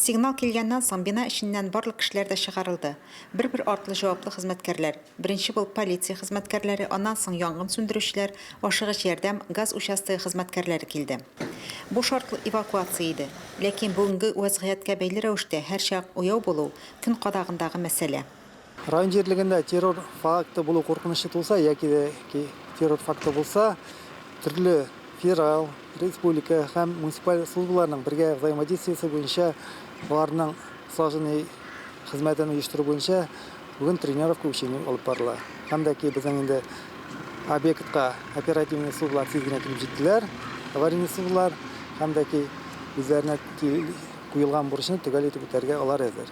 Сигнал килгәннән соң, бина эченнән барлык кешеләр дә чыгарылды. Бер-бер артлы җаваплы хезмәткәрләр, беренче булып полиция хезмәткәрләре, аннан соң янгын сүндерүчеләр, ашыгыч ярдәм, газ участогы хезмәткәрләре килде. Бу шартлы эвакуация иде. Ләкин бүгенге вәзгыятькә бәйле рәвештә һәрчак уяу булу, көн кадагындагы мәсьәлә. Район җирлегендә террор факты булу куркынычы тулса яки дә террор факты булса, төрле федераль, республика һәм муниципаль службаларның бергә взаимодействиесе буенча аларның слаженный хезмәтен оештыру буенча бүген тренировка учение алып барыла. Һәм дә ки безнең инде объектка оперативный службалар тиз генә килеп җиттеләр, аварийный службалар һәм дә ки үзләренә куелган бурычны төгәл итеп үтәргә алар әзер.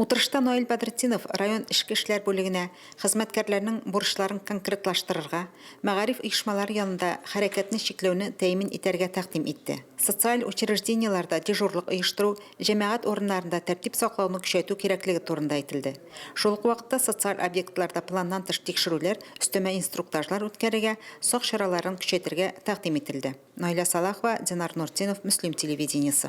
Утырышта Наил Бәдретдинов район эчке эшләр бүлегенә хезмәткәрләрнең бурычларын конкретлаштырырга, мәгариф оешмалары янында хәрәкәтне чикләүне тәэмин итәргә тәкъдим итте. Социаль учреждениеләрдә дежурлык оештыру, җәмәгать урыннарында тәртип саклауны көчәйтү кирәклеге турында әйтелде. Шул ук вакытта социаль объектларда планнан тыш тикшерүләр, өстәмә инструктажлар үткәрергә, сак чараларын көчәйтергә тәкъдим ителде. Наилә Салахова, Динар Нуртдинов, Мөслим телевидениесе.